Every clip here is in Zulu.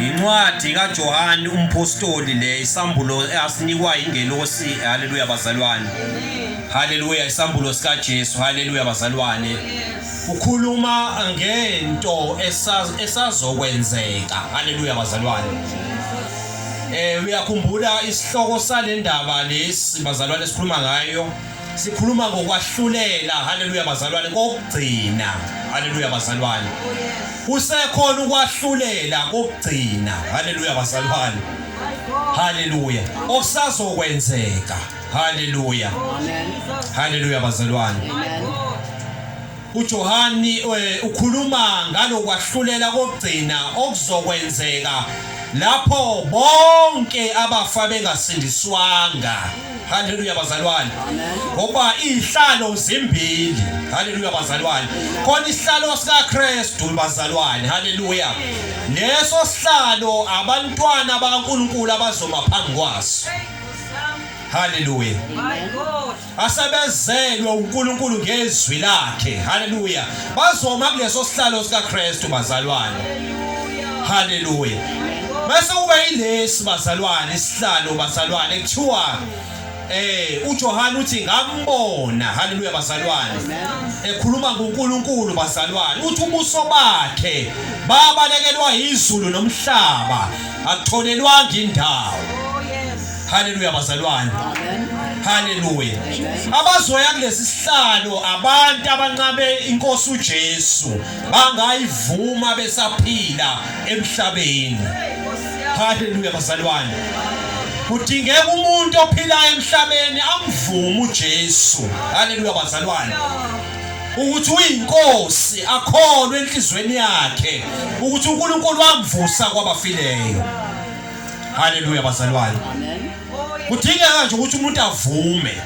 Incwadi kaJohane umphostoli le isambulo asinikwa ingelosi haleluya bazalwane haleluya isambulo sika Jesu haleluya bazalwane ukhuluma ngento esazokwenzeka haleluya bazalwane eh uyakhumbula isihloko salendaba lesi bazalwane sikhuluma ngayo Sikhuluma ngokwahlulela haleluya bazalwane kokugcina haleluya bazalwane Kusekhona ukwahlulela kokugcina haleluya bazalwane Haleluya okusazokwenzeka haleluya Haleluya bazalwane uJohani eh, ukhuluma ngalokwahlulela kokugcina okuzokwenzeka lapho bonke abafa bengasindiswanga Haleluya bazalwane. Ngoba izihlalo zimbili. Haleluya bazalwane. Khona isihlalo sika Kristu bazalwane. Haleluya. Leso sihlalo abantwana bakaNkuluNkulu abazoma phambi kwaso. Haleluya. Asebezelwe uNkulunkulu ngezwi lakhe. Haleluya. bazoma kuleso sihlalo sikaKristu bazalwane haleluya bese kuba yilesi bazalwane isihlalo bazalwane kuthiwa eh uJohane uthi ngambona haleluya bazalwane ekhuluma ngoNkulunkulu bazalwane uthi ubuso bakhe babalekelwa izulu nomhlaba akutholelwanga indawo Haleluya bazalwane. Haleluya. Abazoya kulesi sihlalo abantu abanqabe inkosi uJesu bangayivuma besaphila emhlabeni. Haleluya bazalwane. Kudingeka umuntu ophilayo emhlabeni amvume uJesu. Haleluya bazalwane. ukuthi uyinkosi akholwe enhlizweni yakhe ukuthi uNkulunkulu wamvusa kwabafileyo Haleluya bazalwane. Amen. Kudingeka nje ukuthi umuntu avume.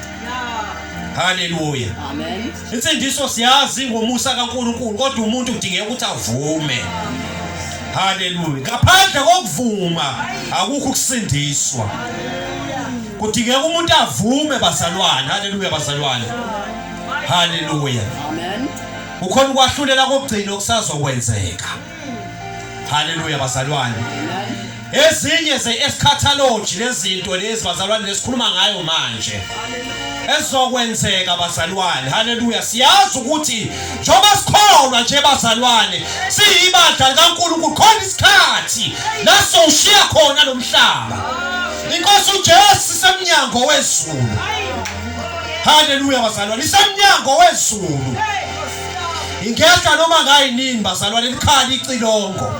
Haleluya. Amen. Insindiso siyazi ngomusa kaNkuluNkulu kodwa umuntu udingeka ukuthi avume. Haleluya. Ngaphandle kokuvuma akukho ukusindiswa. Kudingeka umuntu avume bazalwane. Haleluya bazalwane. Haleluya. Amen. Kukhona ukwahlulela kokugcina okusazokwenzeka. Haleluya bazalwane. Ezinye ze-eschatology lezinto lezi bazalwane lesikhuluma ngayo manje. Ezokwenzeka bazalwane. Haleluya. Siyazi ukuthi njengoba sikholwa nje bazalwane, siyibandla likaNkulunkulu khona isikhathi la sowushiya khona lo mhlaba. Inkosi uJesu semnyango wezulu. Haleluya bazalwane. Isemnyango wezulu. ingehla noma ngayinini bazalwane likhala icilongo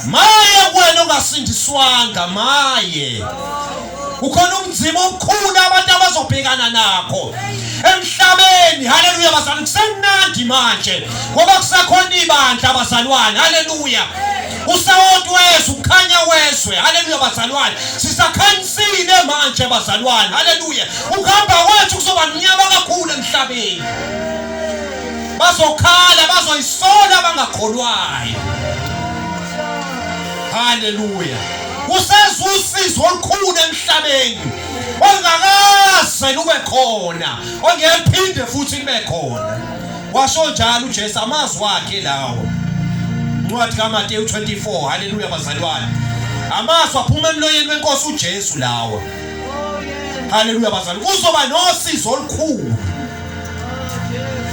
maye kuwena ongasindiswanga maye ukhona umzima omkhulu abantu abazobhekana nakho emhlabeni haleluya bazalwane kusemnandi manje ngoba kusakhona ibandla abazalwane haleluya usawoti wezwe ukukhanya wezwe haleluya bazalwane sisakhanyisile manje bazalwane haleluya ukuhamba kwethu kuzoba mnyama kakhulu emhlabeni bazokhala bazoyisola abangakholwayo haleluya kuseza usizo olukhulu emhlabeni ongakaze lube khona ongephinde futhi libe khona washo njalo uJesu amazwi wakhe lawo incwadi kaMateyu 24 haleluya bazalwane amazwi aphuma emloyeni wenkosi uJesu lawo haleluya bazalwane kuzoba nosizo olukhulu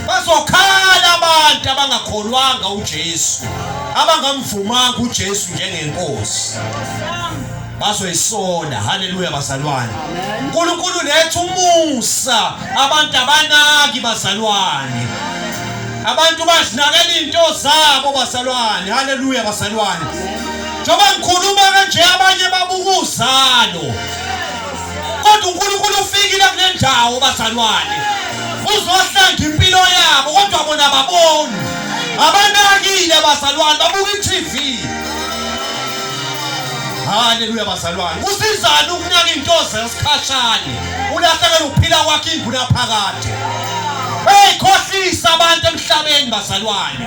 Bazokhala abantu abangakholwanga uJesu, abangamvumanga uJesu njengenkosi. Bazoyisola. Haleluya bazalwane. uNkulunkulu lethu umusa abantu abanaki bazalwane. Abantu bazinakela into zabo bazalwane. Haleluya bazalwane. Njengoba ngikhuluma kanje abanye babuka uzalo. kodwa uNkulunkulu ufikile kule ndawo bazalwane uzohlanga impilo yabo kodwa bona baboni abanakile bazalwane babuka i-TV haleluya bazalwane kusizani ukunaka into zesikhashane ulahlekela ukuphila kwakhe inguna phakade beyikhohlisa abantu emhlabeni bazalwane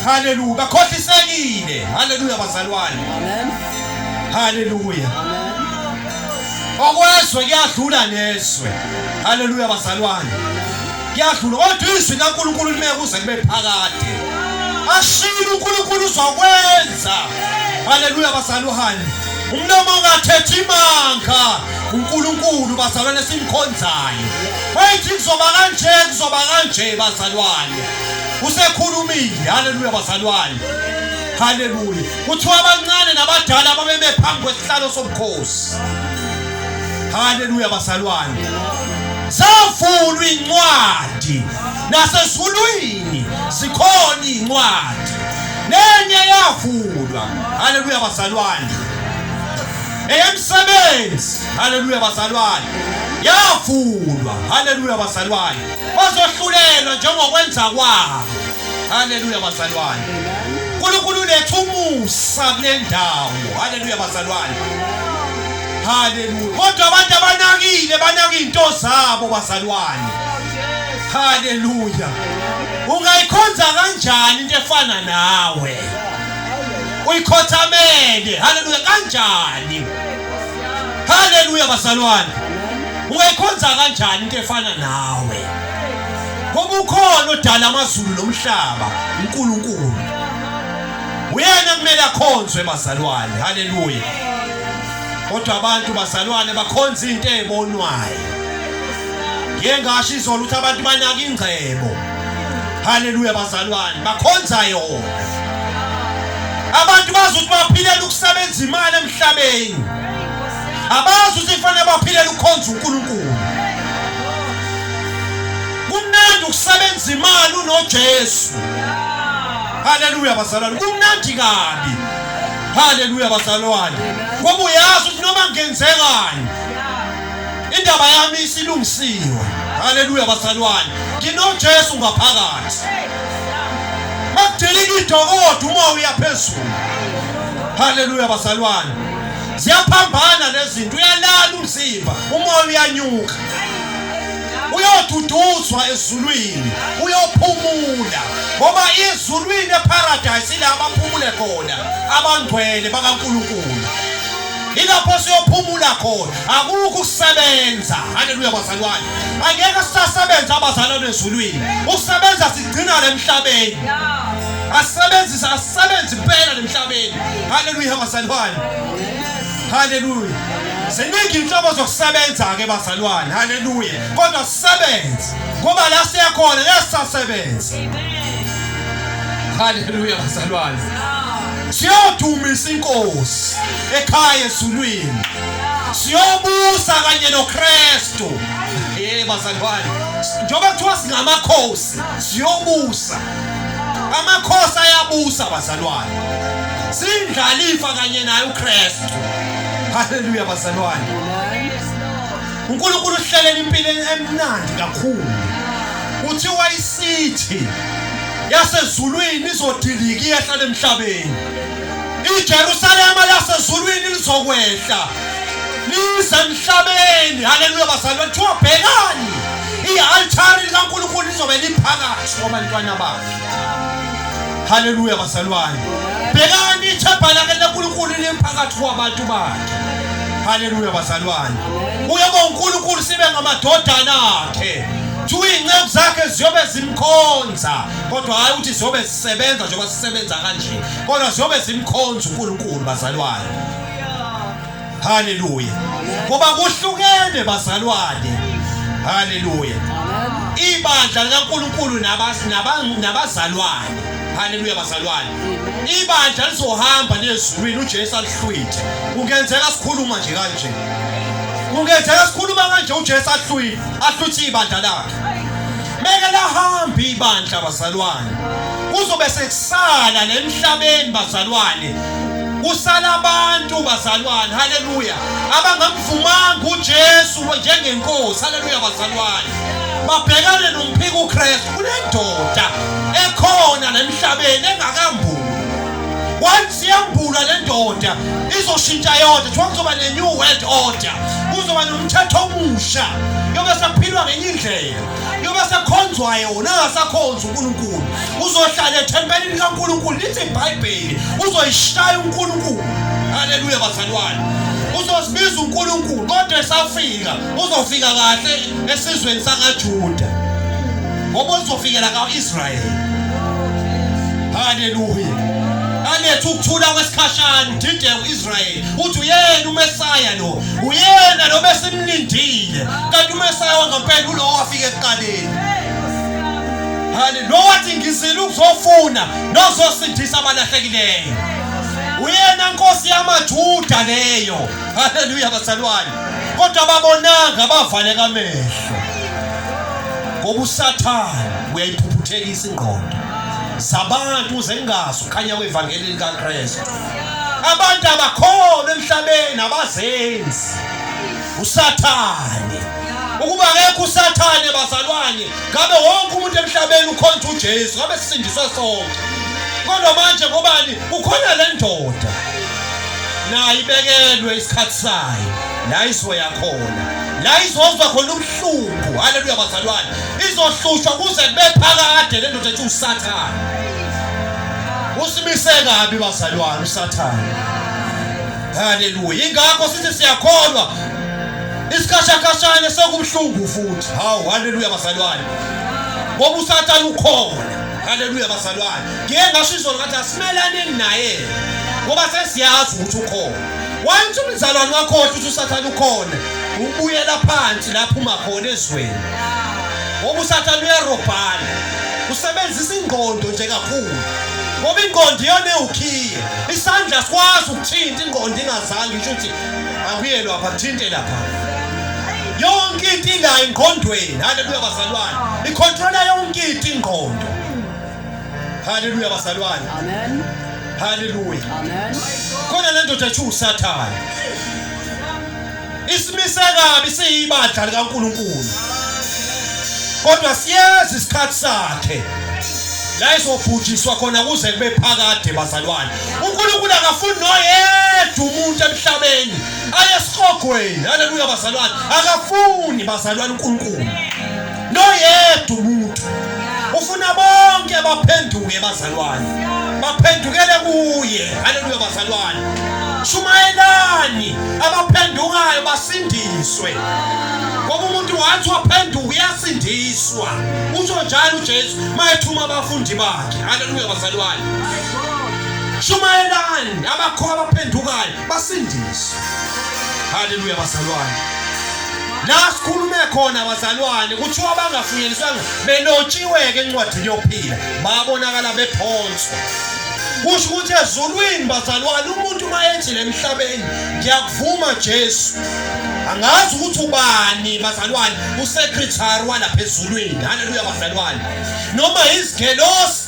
haleluya bakhohlisekile haleluya bazalwane haleluya okwezwe kuyadlula nezwe haleluya bazalwane kuyadlula kodwa izwi likaNkulunkulu lime kuze kube phakade ashilo uNkulunkulu uzokwenza haleluya bazalwane umlomo ungathethi imanga uNkulunkulu bazalwane simkhonzayo wayithi kuzoba kanje kuzoba kanje bazalwane usekhulumile haleluya bazalwane haleluya kuthiwa abancane nabadala babeme phambi kwesihlalo sobukhosi haleluya basalwane zavulwa incwadi nasezulwini zikhona incwadi nenye yavulwa haleluya basalwane eyemsebenzi haleluya basalwane yavulwa haleluya basalwane bazohlulelwa njengokwenza kwabo haleluya bazalwane unkulunkulu uletha umusa kule ndawo haleluya bazalwane haleluya kodwa abantu abanakile banaka iy'nto zabo bazalwane haleluya ungayikhonza kanjani into efana nawe uyikhothamele haleluya kanjani haleluya bazalwane ungayikhonza kanjani into efana nawe ngoba ukhona odala amazulu nomhlaba uNkulunkulu uyena kumele akhonzwe bazalwane haleluya kodwa abantu bazalwane bakhonza into ebonwayo ngiye ngasho izolo ukuthi abantu banaka ingcebo haleluya bazalwane bakhonza yona abantu bazi ukuthi baphilela ukusebenza imali emhlabeni abazi ukuthi kufanele baphilela ukukhonza uNkulunkulu kumnandi ukusebenza imali unoJesu haleluya bazalwane kumnandi kabi haleluya bazalwane ngoba uyazi ukuthi noma ngenzekani Indaba yami isilungisiwe. Haleluya basalwane. Nginojesu ngaphakathi. Makudilika idokodo uma uya phezulu. Haleluya basalwane. Ziyaphambana lezinto uyalala umzimba uma uyanyuka. uyoduduzwa ezulwini uyophumula ngoba izulwini eparadise ila abaphumule khona abangcwele bakaNkulunkulu ilapho siyophumula khona akukho ukusebenza haleluya bazalwane angeke sisasebenza abazalwane ezulwini ukusebenza sigcina le mhlabeni asebenzise asebenze impela le mhlabeni haleluya bazalwane haleluya ziningi inhlobo zokusebenza-ke bazalwane haleluya kodwa sisebenze ngoba la siyakhona ngeke sisasebenza haleluya bazalwane siyodumisa inkosi ekhaya ezulwini siyobusa kanye noKristu eh bazalwane njengoba kuthiwa singamakhosi siyobusa amakhosi ayabusa bazalwane sindlalifa kanye naye uKristu haleluya bazalwane uNkulunkulu uhlelela impilo emnandi kakhulu kuthiwa isithi yasezulwini izodilika iyehlala emhlabeni iJerusalema lasezulwini lizokwehla lize emhlabeni haleluya bazalwa kuthiwa bhekani i-altari likankulunkulu lizobe liphakathi kwabantwana bakhe haleluya bazalwane bhekani ithebha lake lenkulunkulu liphakathi kwabantu bakhe haleluya bazalwane uyoba unkulunkulu sibe ngamadodana akhe kuthiwa iy'nceku zakhe ziyobe zimkhonza kodwa hhayi ukuthi ziyobe zisebenza njengoba sisebenza kanje kodwa ziyobe zimkhonza unkulunkulu bazalwane haleluya ngoba kuhlukene bazalwane haleluya ibandla likankulunkulu nabazalwane haleluya bazalwane ibandla lizohamba liyezulwini uJesu alihlwithe kungenzeka sikhuluma nje kanje kungenzeka sikhuluma kanje uJesu ahlwile ahlwithe ibandla lakhe meke lahamba ibandla bazalwane kuzobe sekusala nemhlabeni bazalwane kusala abantu bazalwane haleluya abangamvumanga uJesu njengenkosi haleluya bazalwane babhekane nomphika uKristu Kunendoda ekhona lemhlabeni engakambuli. Once yambula le ndoda izoshintsha yonke. Kuthiwa kuzoba ne-new world order. Kuzoba nomthetho omusha. Yobe saphilwa ngenye indlela. Yobe sakhonzwayo wona angasakhonzi uNkulunkulu. Uzohlala ethempelini likaNkulunkulu lithi iBhayibheli. Uzoyishaya uNkulunkulu. Haleluya bazalwane. Uzozibiza uNkulunkulu kodwa esafika. uzofika kahle esizweni sakaJuda ngoba uzofikela kaIsrayeli haleluya aletha ukuthula kwesikhashana udideke uIsrayeli uthi uyena uMesaya lo uyena lo besimlindile kanti uMesaya wangempela ulowo wafika ekuqaleni haleluya wathi ngizile ukuzofuna nozosindisa abalahlekileyo uyena nkosi yamajuda leyo haleluya bazalwane kodwa babonanga bavaleka amehlo ngoba usathane uyayiphuphuthekisa ingqondo zabantu uze ngazi ukhanya kwevangeli likaKristu abantu abakhona emhlabeni abazenzi usathane ukuba akekho usathane bazalwane ngabe wonke umuntu emhlabeni ukhonza uJesu ngabe sisindiswe sonke kodwa manje ngobani ukhona le ndoda nayo ibekelwe isikhathi sayo la izoya khona la izozwa khona ubuhlungu haleluya bazalwane izohlushwa kuze kube phakade le ndoda ethi usathane usimise kabi bazalwane usathane haleluya ingakho sithi siyakholwa isikhashakashane sekubuhlungu futhi hawu haleluya bazalwane ngoba usathane ukhona haleluya bazalwane ngiye ngasho izolo ngathi asimelaneni naye ngoba sesiyazi ukuthi ukhona wayethi umzalwane wakho ukuthi usathane ukhona ubuyela phansi lapho uma khona ezweni ngoba usathane uyarobhala usebenzisa ingqondo nje kakhulu ngoba ingqondo iyona ewukhiye isandla sikwazi ukuthinta ingqondo ingazange isho ukuthi akuye lapha kuthinte lapha yonke into ilayo engqondweni haleluya bazalwane ikhontrola yonke into ingqondo Haleluya bazalwane. Amen. Haleluya. Amen. Khona le ndoda ethu usathane. Isimise kabi siyibandla likaNkuluNkulu. Kodwa siyazi isikhathi sakhe. La izobhujiswa khona kuze kube phakade bazalwane. UNkulunkulu akafuni noyedwa umuntu emhlabeni ayesihogweni. Haleluya bazalwane. Akafuni bazalwane uNkulunkulu. noyedwa umuntu ufuna bonke baphenduke bazalwane baphendukele kuye haleluya bazalwane shumayelani abaphendukayo basindiswe ngoba umuntu wathi waphenduka uyasindiswa usho njalo uJesu mayethuma abafundi bakhe haleluya bazalwane shumayelani abakho abaphendukayo basindiswe haleluya bazalwane la sikhulume khona bazalwane kuthiwa bangafunyeliswanga benotshiwe-ke encwadini yokuphila babonakala bephonswa kusho ukuthi ezulwini bazalwane umuntu uma ethi le mhlabeni ngiyakuvuma jesu angazi ukuthi ubani bazalwane usekretary walapha ezulwini haleluya bazalwane noma izigelosi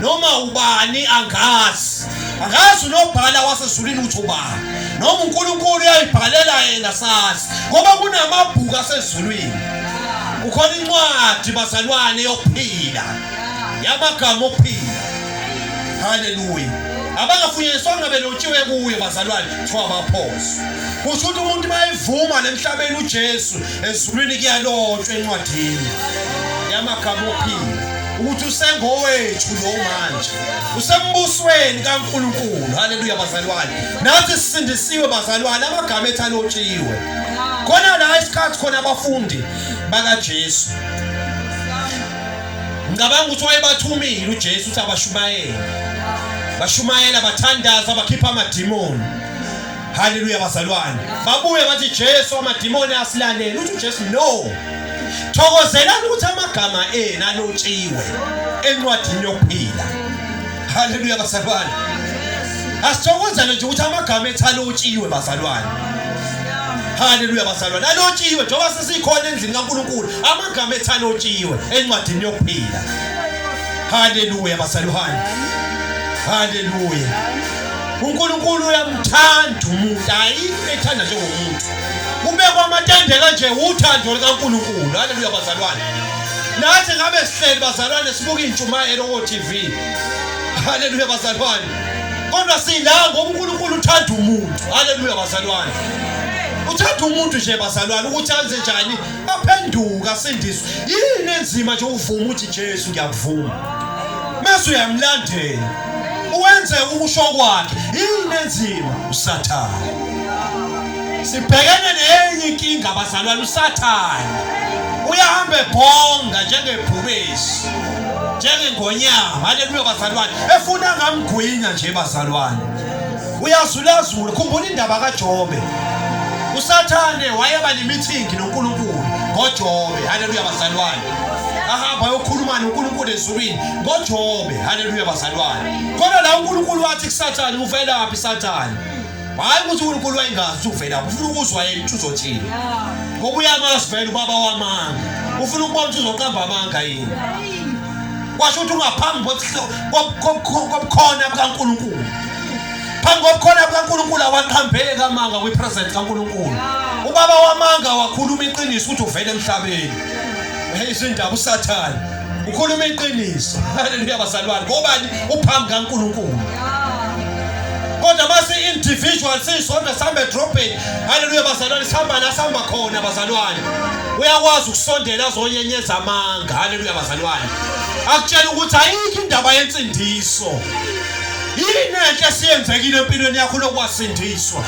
noma ubani angazi angazi unobhala wasezulwini ukuthi ubani noma unkulunkulu uyayibhalela yena sazi ngoba kunamabhuku asezulwini kukhona incwadi bazalwane yokuphila yamagama okuphila haleluya abangafunyaniswanga belotshiwe kuye bazalwane kuthiwa baphoso kusho ukuthi umuntu bayivuma nemhlabeni ujesu ezulwini kuyalotshwa encwadini yamagama okuphila ukuthi usengowethu lo manje usembusweni kaNkulunkulu haleluya bazalwane nathi sisindisiwe bazalwane amagama ethu alotshiwe khona la isikhathi khona abafundi bakaJesu ngicabanga ukuthi wayebathumile uJesu ukuthi abashumayele bashumayela bathandaza bakhipha amadimoni Haleluya bazalwane. Babuye bathi Jesu amadimoni asilalele. Uthi Jesu no. Thokozelani ukuthi amagama enu alotshiwe encwadini yokuphila. Haleluya bazalwane. Asithokozele nje ukuthi amagama ethu alotshiwe bazalwane. Haleluya bazalwane. Alotshiwe njengoba sesikhona endlini kaNkuluNkulu. Amagama ethu alotshiwe encwadini yokuphila. Haleluya bazalwane. Haleluya. uNkulunkulu uyamthanda umuntu hayi ethanda njengomuntu kubekwa amatende kanje uthando likaNkulunkulu haleluya bazalwane nathi ngabe sihleli bazalwane sibuka intshumayelo ko TV haleluya bazalwane kodwa sila ngoba uNkulunkulu uthanda umuntu haleluya bazalwane uthanda umuntu nje bazalwane ukuthi anze njani aphenduka asindiswe yini enzima nje uvuma ukuthi Jesu ngiyakuvuma mase uyamlandela wenze ukusho kwakhe yini enzima usathane sibhekene nenye inkinga abazalwane usathane uyahamba ebhonga njengebhubesi njengengonyama haleluya bazalwane efuna ngamgwinya nje bazalwane uyazulazula khumbula indaba kajobe usathane wayeba nemithingi nonkulunkulu ngojobe haleluya bazalwane ahamba ayokhuluma nonkulunkulu ezulwini ngojobe Haleluya bazalwane. Kodwa la uNkulunkulu wathi kuSathane uvelaphi Sathane? Hayi ukuthi uNkulunkulu wayengazi uvela ufuna ukuzwa yena ukuthi uzothini. Ngoba uyamazi vele ubaba wamanga. Ufuna ukubona ukuthi uzoqamba amanga yini. Washo ukuthi ungaphambi kobukhona bukaNkulunkulu. Phambi kobukhona bukaNkulunkulu awaqhambeki amanga kwi-present kaNkulunkulu. Ubaba wamanga wakhuluma iqiniso ukuthi uvele emhlabeni. Hey izindaba uSathane. ukhuluma iqiniso haleluya bazalwane ngobani uphambi kaNkulunkulu kodwa mase individual sisonto sambe dropping haleluya bazalwane sihamba la sihamba khona bazalwane uyakwazi ukusondela azonyenyeza amanga haleluya bazalwane akutshela ukuthi ayikho indaba yensindiso yini enhle esiyenzekile empilweni yakho lokwasindiswa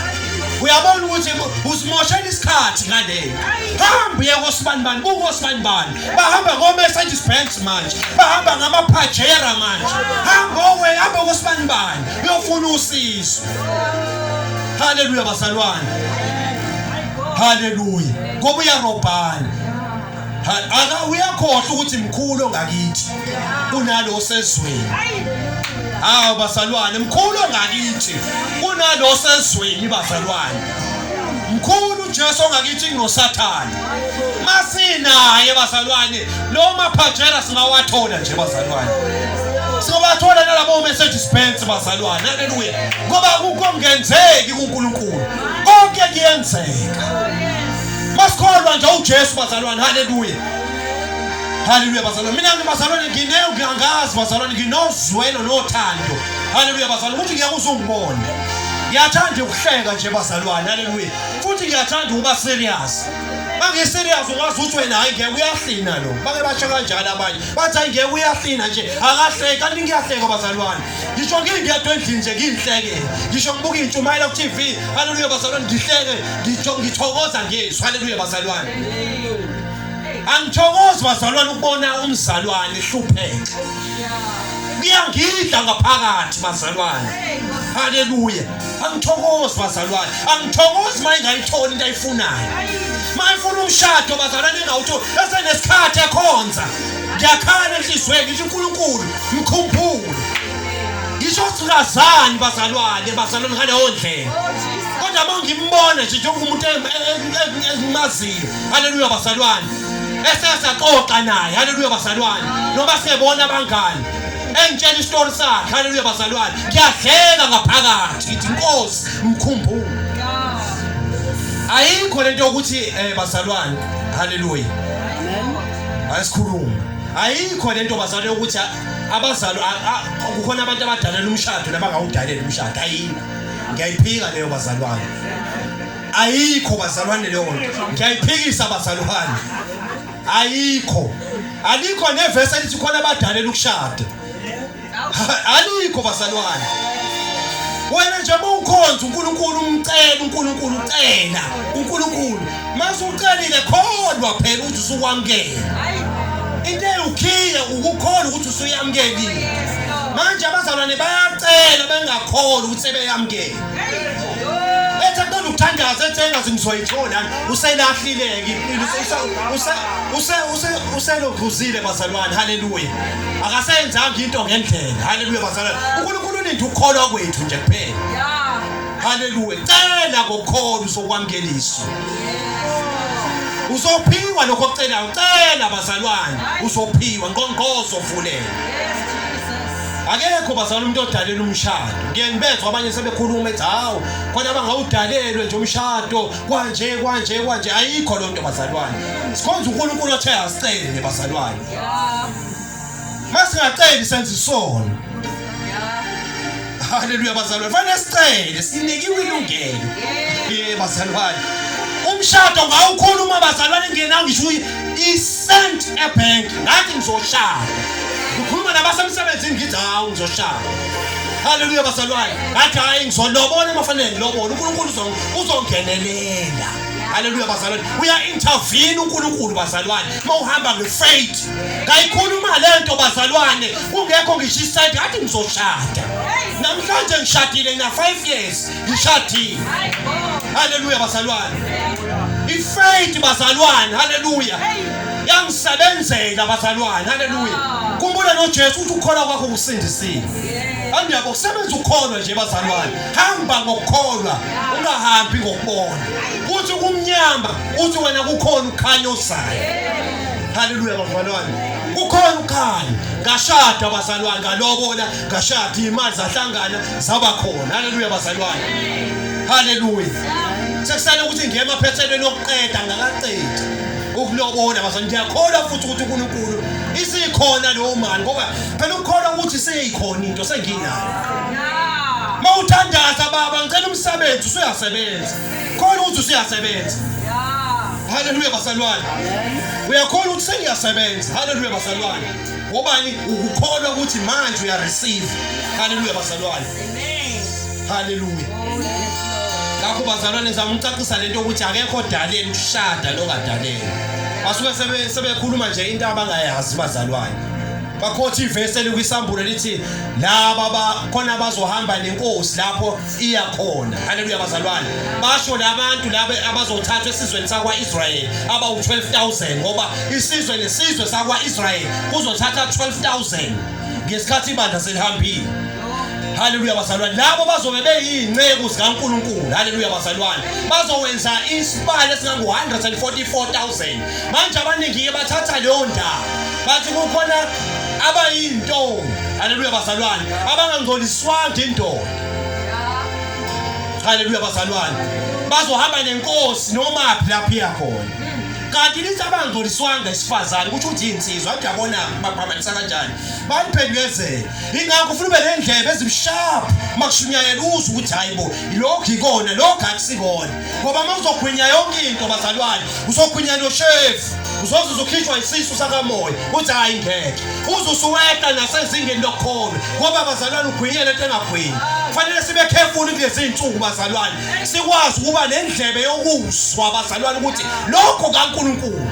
uyabona ukuthi usimoshela isikhathi ngalento hamba uye kosibanibani kukosibanibani bahamba ngomercedes benz manje bahamba ngamapajera manje hamba owe hamba kosibani bani uyofuna usizo haleluya bazalwane haleluya ngoba uyarobhana aka uyakhohlwa ukuthi mkhulu ongakithi kunalo osezweni hawu bazalwane mkhulu ongakithi kunalo osezweni bazalwane mkhulu uJesu ongakithi nginosathane masinaye bazalwane lo maphajera singawathola nje bazalwane singabathola nalabo message spence bazalwane haleluya ngoba kungenzeki kuNkulunkulu konke kuyenzeka masikholwa nje uJesu bazalwane haleluya haleluya bazalwane mina ngibazalwane ngineyo ngiyangazi bazalwane nginozwelo nothando haleluya bazalwane ukuthi ngiyakuzungibona ngiyathanda ukuhleka nje bazalwane haleluya futhi ngiyathanda ukuba serious bange serious ukwazi ukuthi wena hayi ngeke uyahlina lo bake basho kanjalo abanye bathi hayi ngeke uyahlina nje akahleki kanti ngiyahleka bazalwane ngisho ngingedwa endlini nje ngiyihleke ngisho ngibuka intshumayela ku TV haleluya bazalwane ngihleke ngithokoza ngesu haleluya bazalwane angithokozi bazalwane ukubona umzalwane hlupheka kuyangidla ngaphakathi bazalwane haleluya angithokozi bazalwane angithokozi uma ingayitholi into ayifunayo uma ifuna umshado bazalwane engawutholi esenesikhathi ekhonza ngiyakhala enhliziyweni ngisho unkulunkulu mkhumbule ngisho sikazani bazalwane bazalwane ngaleyo ndlela kodwa uma ngimbona nje njengoba umuntu engimaziyo haleluya bazalwane esesaxoxa naye haleluya bazalwane noma sebona abangani engitshela isitori sakhe haleluya bazalwane ngiyadleka ngaphakathi ngithi inkosi mkhumbulo ayikho lento yokuthi eh bazalwane haleluya asikhulume ayikho lento bazalwane yokuthi abazali kukhona abantu abadalela umshado nabangawudalela umshado ayikho ngiyayiphika leyo bazalwane ayikho bazalwane leyo nto ngiyayiphikisa bazalwane ayikho alikho nevesi elithi khona abadalela ukushada alikho bazalwane wena nje uma ukhonza uNkulunkulu umcela uNkulunkulu ucela uNkulunkulu mase ucelile kholwa phela ukuthi usukwamkela into eyukhiye ukukholwa ukuthi usuyamkelile manje abazalwane bayacela bengakholwa ukuthi sebeyamkele Ethi akuqeda ukuthandaza ethi engazi ngizoyithola uselahlileke impilo uselokhuzile bazalwane haleluya akasenzanga into ngendlela haleluya bazalwane uNkulunkulu ulinda ukukholwa kwethu nje kuphela haleluya cela ngokholo uzokwamkeliswa uzophiwa lokho ocelayo cela bazalwane uzophiwa ngqongqozo vulela akekho bazali umuntu odalela umshado ngiyengibezwa abanye sebekhuluma ethi hawu kodwa abangawudalelwe nje umshado kwanje kwanje kwanje ayikho loo nto bazalwane sikhonza unkulunkulu othe asicele nebazalwane uma singaceli senza isono haleluya bazalwane fanele sicele sinikiwe ilungelo ye bazalwane umshado ngawukhuluma bazalwane ngenawo ngisho isent ebhenki ngathi ngizoshada ngikhuluma nabasemsebenzini ngithi hawu ngizoshaya haleluya bazalwane ngathi hhayi ngizolobona mafanele ngilobona unkulunkulu uzongenelela haleluya bazalwane uya-intervene unkulunkulu bazalwane uma uhamba ngefaith kayikhuluma le nto bazalwane kungekho ngisho isenti ngathi ngizoshada namhlanje ngishadile na-five years ngishadile haleluya bazalwane ifaith bazalwane haleluya yangisebenzela bazalwane haleluya kumbule nojesu ukuthi ukukholwa kwakho kusindisile hamba yabo kusebenza ukukholwa nje bazalwane hamba ngokukholwa ungahambi ngokubona kuthi kumnyama uthi wena kukhona ukhanya ozayo haleluya bazalwane kukhona ukhanya ngashada bazalwane ngalobola ngashada imali zahlangana zaba khona haleluya bazalwane haleluya sekusale ukuthi ngiye emaphethelweni okuqeda ngakaqedi ukulobola bazalwane ngiyakholwa futhi ukuthi uNkulunkulu isikhona leyo mali ngoba phela ukukholwa ukuthi seyikhona into senginayo mawuthandaza baba ngicela umsebenzi usuyasebenza khona ukuthi usuyasebenza haleluya bazalwane uyakhona ukuthi sengiyasebenza haleluya bazalwane ngobani ukukholwa ukuthi manje uyareceive haleluya bazalwane haleluya ngakho bazalwane zami ngicacisa lento ukuthi akekho odaleni ushada longadaleni basuke sebekhuluma nje into abangayazi bazalwane bakhothi ivesi elikwisambulo lithi laba khona bazohamba nenkosi lapho iyakhona haleluya bazalwane basho labantu laba abazothathwa esizweni sakwa-israyeli abawu-12000 ngoba isizwe nesizwe sakwa-israyeli kuzothatha 12000 ngesikhathi ibandla selihambile haleluya bazalwane labo bazobe beyiy'nceku zikankulunkulu haleluya bazalwane bazowenza isibalo esingangu-144000 manje abaningi-ke bathatha leyo ndawo bathi kukhona abayintombi haleluya bazalwane abangangcoliswanga indoda haleluya bazalwane bazohamba nenkosi noma phi lapho iya khona kanti lithi abangcoliswanga isifazane kusho ukuthi insizwa ngiyabona baphambanisa kanjani baniphendulezele ingakho ufuna ube nendlebe ezimshapha makushunyayela uzwe ukuthi hayibo lokhu ikona lokhu akusikona ngoba uma uzogwinya yonke into bazalwane uzogwinya noshevu uzoze uzokhishwa isisu sakamoya uthi hhayi ngeke uze usuwehla nasezingeni lokholo ngoba bazalwane ugwinyele into engagwinyi kufanele sibe khefuni kulezi iy'nsuku bazalwane sikwazi ukuba nendlebe yokuzwa bazalwane ukuthi lokho kankulunkulu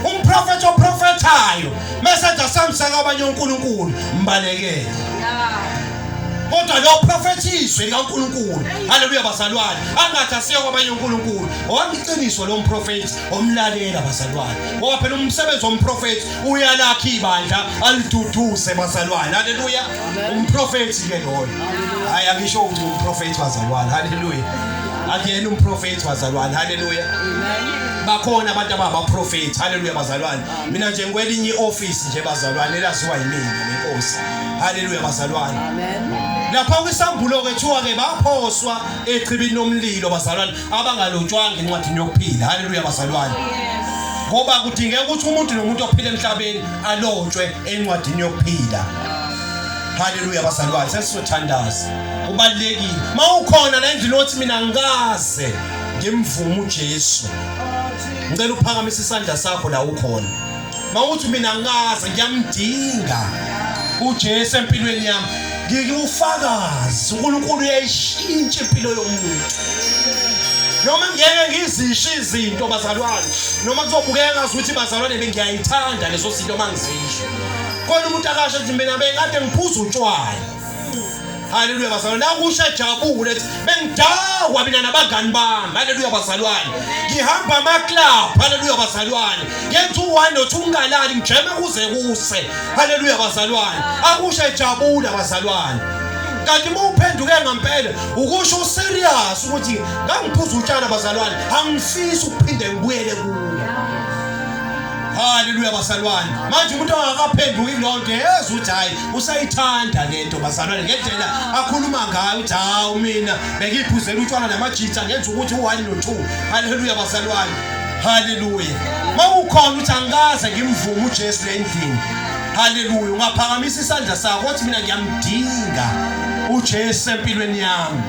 umprofethi oprofethayo mesenza samsaka abanye unkulunkulu mbalekele kodwa lo profethiswe likaNkulunkulu haleluya bazalwane angathi asiye kwabanye uNkulunkulu owayiqiniso lo mprofethi omlalela bazalwane ngoba phela umsebenzi womprofethi uyalakha ibandla aliduduze bazalwane haleluya umprofethi ke loyo hayi angisho ukuthi umprofethi bazalwane haleluya akuyena umprofethi bazalwane haleluya bakhona abantu ababaprofethi haleluya bazalwane mina nje ngikwelinye ioffice nje bazalwane elaziwa yimina nenkosi haleluya bazalwane lapha kwisambulo ke thiwa ke baphoswa echibini lomlilo bazalwane abangalotshwanga incwadi yokuphila haleluya bazalwane oh, ngoba kudingeka ukuthi umuntu nomuntu ophila emhlabeni alotshwe encwadini yokuphila haleluya bazalwane sesizothandaza kubalekile mawukhona la endlini othi mina ngikaze ngimvume uJesu ngicela uphakamise isandla sakho la ukhona mawuthi mina ngaze ngiyamdinga uJesu empilweni yami ngiyufakazi uNkulunkulu uyayishintsha impilo yomuntu noma ngeke ngizisho izinto bazalwane noma kuzobukeka ngazi ukuthi bazalwane bengiyayithanda leso sinto mangizisho kodwa umuntu akasho ukuthi mina bengade ngiphuza utshwala Haleluya bazalwane, nakusha jabule ethi bengidakwa mina nabangani bami. Haleluya bazalwane, ngihamba amaclub. Haleluya bazalwane, ngenza u-one nothi ungalali ngijeme kuze kuse. Haleluya bazalwane, akusha jabula bazalwane kanti uma uphenduke ngampela ukusho userious ukuthi ngangiphuza utshana bazalwane angifisi ukuphinde ngibuyele kuwo haleluya bazalwane manje umuntu angakaphenduki lonke ezwe ukuthi hhayi usayithanda lento bazalwane ngendlela akhuluma ngayo uthi hawu mina bengiyiphuzela utshwala namajitha ngenza ukuthi u-one no-two haleluya bazalwane haleluya uma ukhona ukuthi angikaze ngimvume ujesu le ndlini haleluya ungaphakamisa isandla sakho othi mina ngiyamdinga ujesu empilweni yami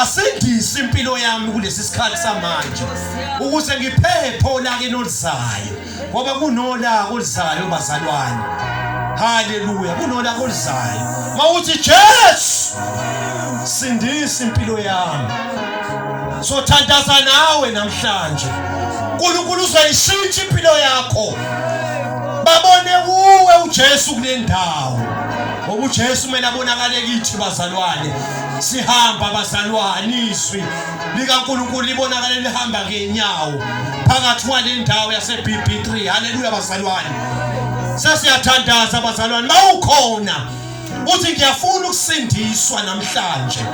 asindise impilo yami kulesi sikhathi samanje ukuze ngiphephe olakenolizayo ngoba kunolaka oluzayo bazalwane haleluya kunolaka oluzayo mawuthi Jesu sindisa impilo yami sothandaza nawe namhlanje uNkulunkulu uzoyishintsha impilo yakho babone kuwe uJesu kule ndawo ngoba uJesu kumele abonakale kithi bazalwane sihamba bazalwane izwi likaNkulunkulu libonakale lihamba ngenyawo phakathi kwale ndawo yaseBB3 haleluya bazalwane sesiyathandaza bazalwane mawukhona uthi ngiyafuna ukusindiswa namhlanje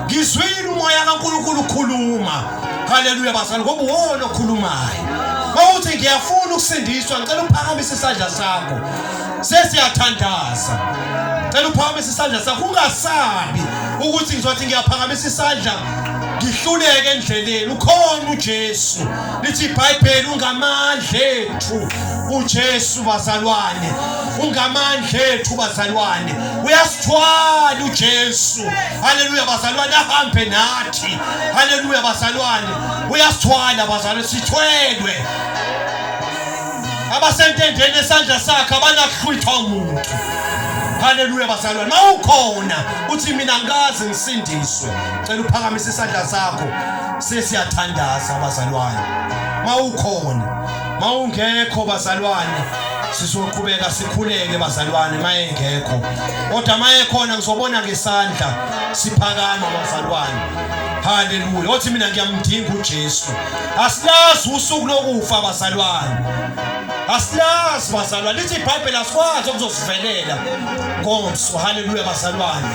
ngizwile umoya kaNkulunkulu ukhuluma haleluya bazalwane ngoba uwona okhulumayo mawuthi ngiyafuna ukusindiswa ngicela uphakamise isandla sakho sesiyathandaza cela uphakamisa isandla sakho ungasabi ukuthi ngizothi ngiyaphakamisa isandla ngihluleke endleleni ukhona uJesu lithi iBhayibheli ungamandla ethu uJesu bazalwane ungamandla ethu bazalwane uyasithwala uJesu haleluya bazalwane ahambe nathi haleluya bazalwane uyasithwala bazalwane sithwelwe abasentendeni esandla sakhe abanakuhlwithwa umuntu haleluya bazalwane ma ukhona uthi mina ngikaze ngisindiswe cela uphakamise isandla sakho sesiyathandaza bazalwane ma ukhona ma ungekho bazalwane sizoqhubeka sikhuleke bazalwane mayengekho kodwa mayekhona ngizobona ngesandla siphakama bazalwane haleluya othi mina ngiyamdinga uJesu asilazi usuku lokufa bazalwane asilazi bazalwane lithi ibhayibheli asikwazi okuzosivelela ngomso haleluya bazalwane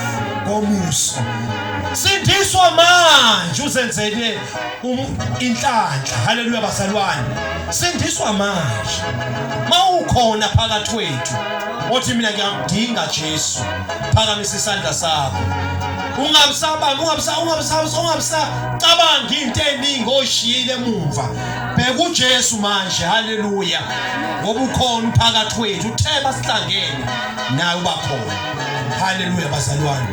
ngomuso sindiswa manje uzenzele um, inhlanhla haleluya bazalwane sindiswa manje mawukhona phakathi kwethu othi mina ngiyamdinga Jesu phakamisa isandla sakho ungabisabanga ungabisa ungabisabisa ungabisacabangi into eningi oshiyile emuva bheka uJesu manje haleluya ngoba ukhona phakathi wethu uthe basihlangene naye uba khona haleluya bazalwane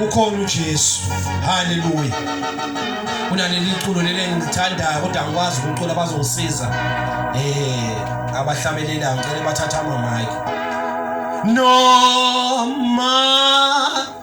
ukhona uJesu haleluya kunaleli culo leli engilithandayo kodwa angikwazi ukucula bazongisiza eh abahlamelelayo ngicela bathathe ama mic noma